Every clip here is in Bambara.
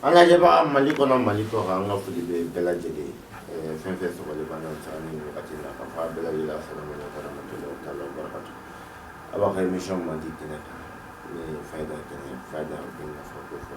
an ka lajɛbaga mali kɔnɔ mali kɔ kan an ka foli bɛ bɛɛ lajɛlen ye fɛn fɛn sɔgɔli b'an na sa ni wagati la ka fɔ a bɛɛ lajɛlen la salamu alaikum warahmatullahi taala wabarakatuh a b'a ka émission mandi kɛnɛ kan n'o ye fayida kɛnɛ fayida bɛ nafa ko fɔ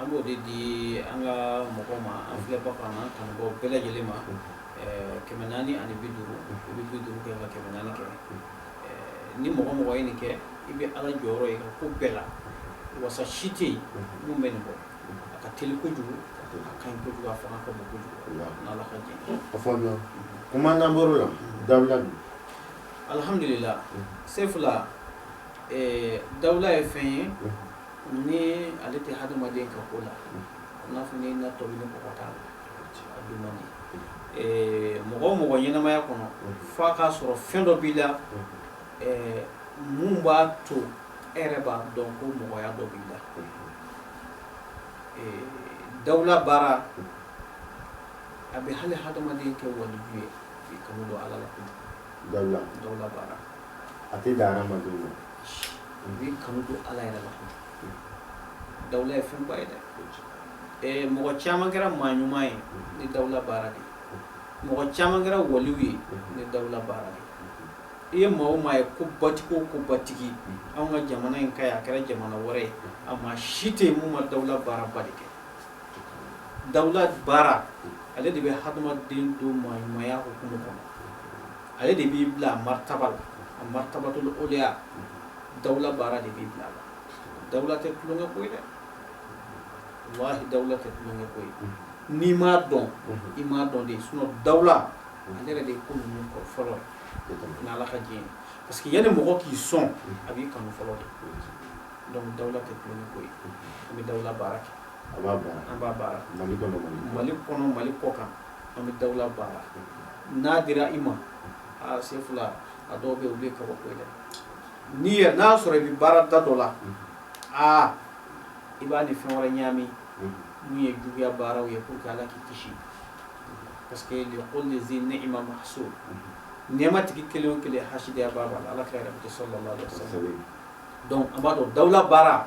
An b'o de di an ka mɔgɔ ma an filɛbaga n'an kanubaw bɛɛ lajɛlen ma kɛmɛ naani ani bi duuru i bɛ bi duuru kɛ ka kɛmɛ naani kɛ ni mɔgɔ o mɔgɔ ye nin kɛ i bɛ ala jɔyɔrɔ ye ko bɛɛ la wasa si tɛ yen min bɛ nin bɔ a ka teli kojugu a ka ɲi kojugu a fanga ka bon kojugu n'ala ka diɲɛ kuma la dawula don alihamdulila sefula dawula ye fɛn ye Ni ale tɛ hadamaden ka ko la n'a fɔ ni na tobi ni kɔgɔ t'a la a dun man di Ɛɛ mɔgɔ o mɔgɔ ɲɛnamaya kɔnɔ fo a k'a sɔrɔ fɛn dɔ b'i la ɛɛ mun b'a to e yɛrɛ b'a dɔn ko mɔgɔya dɔ b'i la Ɛɛ dawula baara a bɛ hali hadamaden kɛ waliju ye k'i kanu don Ala la ko dawula baara a tɛ dan hadamadenw ma a b'i kanu don ala yɛrɛ la dawula ye fɛnba ye dɛ eh, mɔgɔ caman kɛra maa ɲuman ye ni dawula baara de mɔgɔ caman kɛra waliyu ye ni dawula baara de i ye maa o maa ye ko batigi o ko batigi anw ka jamana in ka ye a kɛra jamana wɛrɛ ye a maa si tɛ yen mun ma dawula baaraba de kɛ dawula baara ale de bɛ hadamaden don maa ɲumanya hukumu kɔnɔ ale de b'i bila a martaba la a martabatul awliya dawula baara de b'i bila a la dawula tɛ tulonkɛ ko ye dɛ walahi dawula tɛ tulonkɛ ko ye n'i m'a dɔn i m'a dɔn de sinon dawula ale yɛrɛ de ye ko ninnu kɔ fɔlɔ ni ala ka diɲɛ ye parce que yanni mɔgɔ k'i son a b'i kanu fɔlɔ de donc dawula tɛ tulonkɛ ko ye an bɛ dawula baara kɛ an b'a baara mali kɔnɔ mali kɔ kan an bɛ dawula baara n'a dira i ma aa sefula a dɔw bɛ u bɛ kaba ko dɛ n'i ye n'a y'a sɔrɔ i bɛ baara da dɔ la aa i b'a ni fɛn wɛrɛ ɲami min ye juguya baaraw ye pour que ala k'i kisi parce que li kulli zi ni'ma mahsud nɛɛma tigi kelen o kelen hasidiyabaa b'a la ala ka kira bɛ sallallahu alaihi wasallam donc an b'a dɔn dawula baara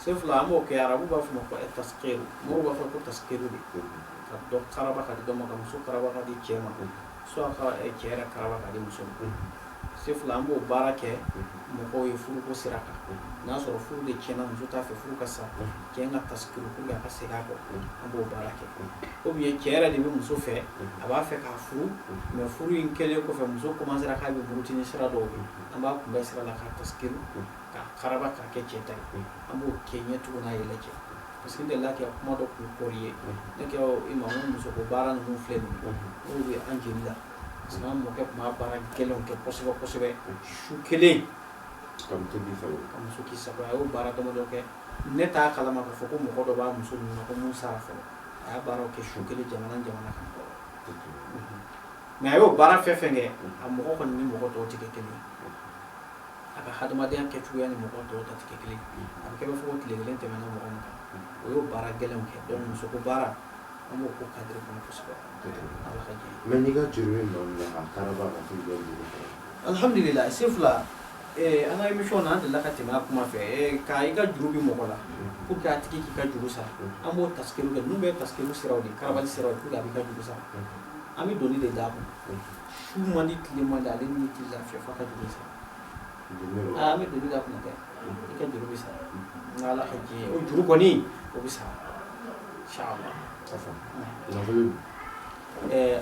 Sefula an b'o kɛ arabu b'a fɔ ma ko ɛ tasikiri mɔgɔw b'a fɔ ko tasikiri de ka dɔ karaba ka di dɔ ma ka muso karaba ka di cɛ ma soit ka ɛ, cɛ yɛrɛ karaba ka di muso ma Sefula an b'o baara kɛ mɔgɔw ye furuko sira kan n'a sɔrɔ furu de tiɲɛna muso t'a fɛ furu ka sa cɛ k'a tasikiri pour que a ka segin a kɔ an b'o baara kɛ o ye cɛ yɛrɛ de bɛ muso fɛ a b'a fɛ k'a furu mais furu in kɛlen kɔfɛ muso commencera k'a bɛ murutini sira dɔw ye an b'a kunbɛn sira la k'a tasikiri k'a karaba ka kɛ cɛ ta ye an b'o kɛ ɲɛ cogo n'a yɛlɛ cɛ parce que n delila ka kuma dɔ kun kɔri ye ne kɛ i ma n muso ko baara ninnu filɛ nin n'o bɛ an jeli la parce que an mɔkɛ tun b'a baara gɛlɛnw kɛ kosɛbɛ kosɛbɛ su kelen ka muso k'i sago ka muso k'i sago a y'o baara damadɔ kɛ ne t'a kalama k'a fɔ ko mɔgɔ dɔ b'a muso ninnu na ko mun sara fɔlɔ a y'a baaraw kɛ su kelen jamana jamana kan kɔrɔ mais a y'o baara fɛn fɛn kɛ a mɔgɔ kɔni ni mɔgɔ tɔw tɛ kɛ kelen ye a ka hadamadenya kɛcogoya ni mɔgɔ tɔw ta tɛ kelen a bɛ k'a fɔ ko tile kelen tɛmɛna mɔgɔ min kan o y'o baara gɛlɛn kɛ dɔn muso ko baara an b'o ko cadre kɔnɔ kosɛbɛ mais n'i ka juru alhamdulillah Sefula an ka émission na an delila ka tɛmɛ a kuma fɛ k' i ka juru bɛ mɔgɔ la pour que a tigi k'i ka juru sara an b'o tasikiri kɛ ninnu bɛ tasikiri siraw de karabali siraw pour que a b'i ka juru sara an bɛ doni de d'a kun su man di tile man di ale ni tɛ lafiya f'a ka juru sara an bɛ doni d'a kun dɛ i ka juru bɛ sara n ala ka diɲɛ o juru kɔni o bɛ sara inshallah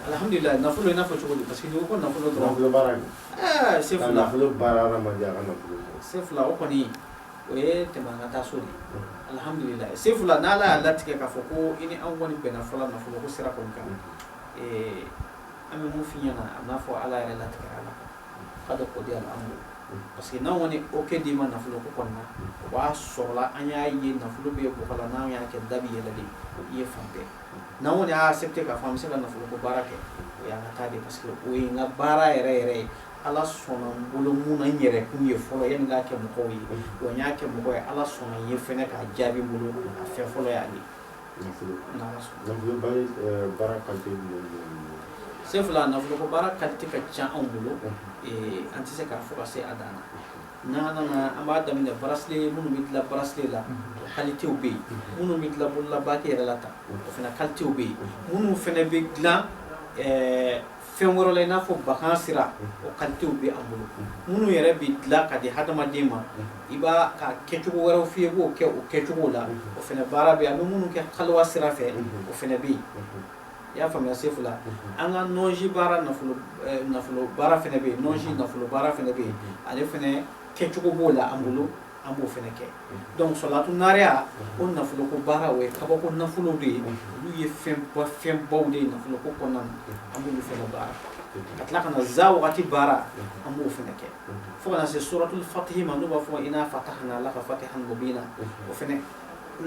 alhamdulillah nafolo i n'a fɔ cogo di parce que n'i ko ko nafolo dɔrɔn nafolo baara in ɛɛ Sefula nafolo baara hadamaden a ka nafolo Sefula o kɔni o ye tɛmɛ an ka taa so de alhamdulillah Sefula n'ala y'a latigɛ k'a fɔ ko i ni anw kɔni bɛnna fɔlɔ nafolo ko sira kɔni kan an bɛ mun f'i ɲɛna a n'a fɔ ala yɛrɛ latigɛ a la ka da o di an bolo parce que n'an kɔni o kɛ d'i ma nafolo ko kɔnɔna na o b'a sɔrɔla an y'a ye nafolo bɛ bɔ la n'an y'a kɛ da bɛ yɛlɛ de i ye fan bɛɛ n'an kɔni y'a accepté k'a fɔ an bɛ se ka nafolo ko baara kɛ o y'an ka ta de parce que o ye n ka baara yɛrɛ yɛrɛ ye ala sɔnna n bolo mun na n yɛrɛ kun ye fɔlɔ yanni n k'a kɛ mɔgɔw ye wa n y'a kɛ mɔgɔ ye ala sɔnna n ye fɛnɛ k'a jaabi n bolo a fɛn fɔlɔ y'a ye Nafolo nafolo baara kalite jumɛn bɛ anw bolo? Sefula nafolo ko baara kalite ka ca anw bolo an tɛ se k'a fɔ ka se a dan na n'an nana an b'a daminɛ bracelet minnu bɛ dilan bracelet la o kalitew bɛ yen minnu bɛ dilan bolola bague yɛrɛ la tan o fana kalitew bɛ yen minnu fana bɛ dilan fɛn wɛrɛ la i n'a fɔ bakan sira o kalitew bɛ an bolo minnu yɛrɛ bɛ dilan ka di hadamaden ma i b'a ka kɛcogo wɛrɛw f'i ye i b'o kɛ o kɛcogo la o fana baara bɛ yen an bɛ minnu kɛ kaliwa sira fɛ o fana bɛ yen i y'a faamuya Sefula an ka nɔnsi baara nafolo eh, nafolo baara fana bɛ yen nɔnsi nafolo baara fana bɛ yen ale fana kɛcogo b'o la an bolo an b'o fana kɛ donc salatu naariya o nafolo ko baara o ye kabako nafolo de ye olu ye fɛnba fɛnbaw de ye nafolo ko kɔnɔna na an b'olu fana baara ka tila ka na za wagati baara an b'o fana kɛ fo ka na se suratul fatihi ma n'u b'a fɔ ina fatahana laka fatihan mubina o fana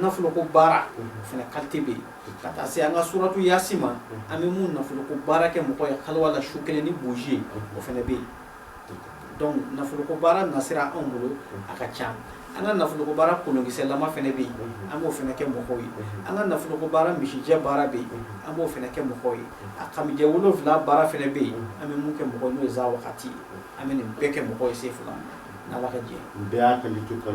nafolo ko baara o fana kalite bɛ yen ka taa se an ka suratu yasi ma an bɛ mun nafolo ko baara kɛ mɔgɔ ye kaluwa la su kelen ni buji ye o fana bɛ yen nafoloko baara nasira anw bolo a ka ca an ka nafoloko baara kolonkisɛlama fana bɛ yen an b'o fana kɛ mɔgɔw ye an ka nafoloko baara misijɛ baara bɛ yen an b'o fana kɛ mɔgɔw ye a kamijɛ wolonwula baara fana bɛ yen an bɛ mun kɛ mɔgɔw ye n'o ye za wagati ye an bɛ nin bɛɛ kɛ mɔgɔ ye sefula ala ka jɛ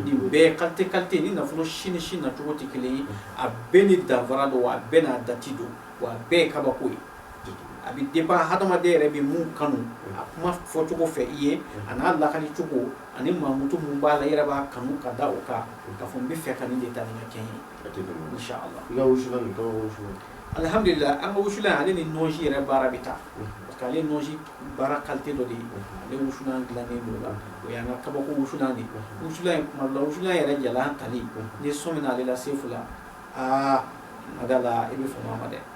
nin bɛɛ kalite ni nafolo si ni si nacogo tɛ kelen ye a bɛɛ ni danfara don a bɛɛ n'a dati don wa a bɛɛ ye kabako ye a bɛ dépend hadamaden yɛrɛ bɛ mun kanu a kuma fɔcogo fɛ i ye a n'a lakali cogo ani mankutu mun b'a la i yɛrɛ b'a kanu ka da o kan k'a fɔ n b'a fɛ ka nin de ta nin ka kɛ n ye inshallah i ka wusulan nin kaba wusulan alihamdulila an ka wusulan ale ni nɔnsi yɛrɛ baara bɛ taa parce que ale nɔnsi baara kalite dɔ de ye ale wusulan dilannen don la o y'an ka kabako wusulan de wusulan in kuma dɔ la wusulan yɛrɛ jalan tali n'i sɔmina ale la sefula aa madala i bɛ fama ma dɛ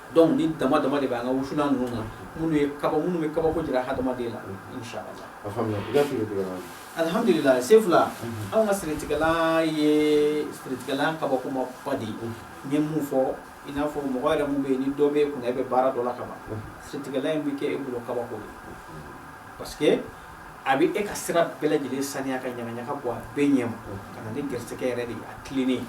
Donc ni dama dama de bɛ an ka wusulan ninnu na minnu ye kaba minnu bɛ kabako jira hadamaden la inshallah a faamuya i ka siritigɛla alhamdulilah sefula anw ka siritigɛla ye siritigɛla kabakoma ba de ye n ye mun fɔ i n'a fɔ mɔgɔ yɛrɛ mun bɛ yen ni dɔ bɛ kunna e bɛ baara dɔ la ka ban siritigɛla in bɛ kɛ e bolo kabako ye parce que a bɛ e ka sira bɛɛ lajɛlen saniya ka ɲagaɲaga bɔ a bɛɛ ɲɛ ma ka na ni garisɛgɛ yɛrɛ de ye a tilennen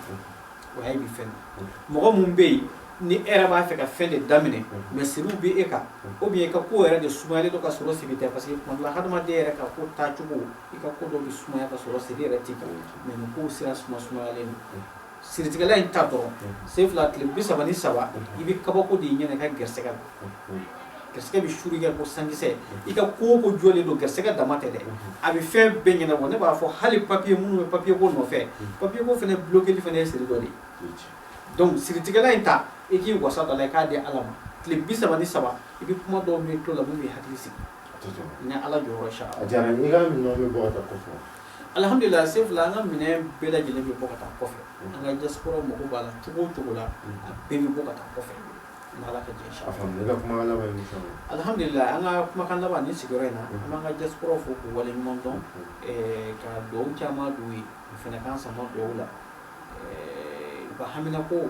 o y'a ye bi fɛn na mɔgɔ mun bɛ yen ni e yɛrɛ b'a fɛ ka fɛn de daminɛ mais siriw bɛ e kan ou bien i ka ko yɛrɛ de sumayalen don ka sɔrɔ siri tɛ parce que tuma dɔ la hadamaden yɛrɛ ka ko taacogo i ka ko dɔ bɛ sumaya ka sɔrɔ siri yɛrɛ t'i kan mais nin kow sira suma sumayalen don siritigɛla in ta dɔrɔn sefula tile bi saba ni saba i bɛ kabako de y'i ɲɛ na i ka gɛrɛsɛgɛ la garisɛgɛ bɛ suuru kɛ ko sankisɛ i ka ko o ko jɔlen don garisɛgɛ dama tɛ dɛ a bɛ fɛn bɛɛ ɲɛnabɔ ne b'a fɔ hali papiye minnu bɛ papiye ko nɔfɛ papiye ko fana bulokeli fana ye siri dɔ de ye donc siritigɛla in ta i k'i wasa dɔ la i k'a di ala ma tile bi saba ni saba i bɛ kuma dɔw mɛn tulo la min b'i hakili sigi ni ala jɔyɔrɔ sa a diyara n ye i ka minɛnw bɛ bɔ ka taa kɔfɛ alhamdulilah sefula an ka minɛn bɛɛ lajɛlen bɛ bɔ ka taa kɔfɛ an ka diaspora mago b'a la cogo o cogo la a bɛɛ bɛ bɔ ka taa kɔfɛ Alihamudulilayi an ka kumakan laban ni sigiyɔrɔ in na an b'an ka diaspora fo k'u wale ɲuman dɔn ka dugawu caman don u ye u fana k'an sama dugawu la u ka haminako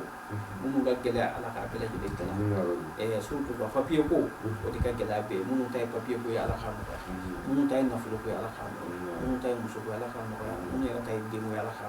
minnu ka gɛlɛya ala k'a bɛɛ lajɛlen surtout ka papiye ko o de ka gɛlɛya bɛ minnu ta ye papiye ko ye ala k'a nɔgɔya minnu ta ye nafolo ko ye ala k'a nɔgɔya minnu ta ye muso ko ye ala k'a nɔgɔya minnu yɛrɛ ta ye den ala ka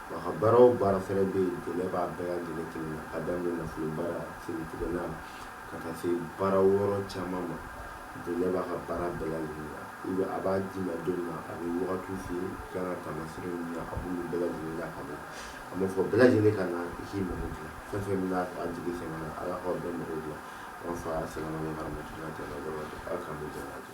Wa ka baara o baara fɛnɛ be yen dɛmɛ b'a bɛɛ lajɛlen kelen na k'a daminɛ nafolo baara siritigɛ la ka taa se baara wɛrɛ caman ma dɛmɛ b'a ka baara bɛɛ lajɛlen na i be a b'a d'i ma don min na a be wagatiw f'i ye i kan ka taamasere min na a b'olu bɛɛ lajɛlen lakale a b'a fɔ bɛɛ lajɛlen ka na i k'i mago dilan fɛn fɛn bena a jigi sɛmɛ na ala k'aw bɛɛ mago dilan an fa salamalekum waramatulahi taala wabarakatu ala k'an bɛɛ jɛn k'an to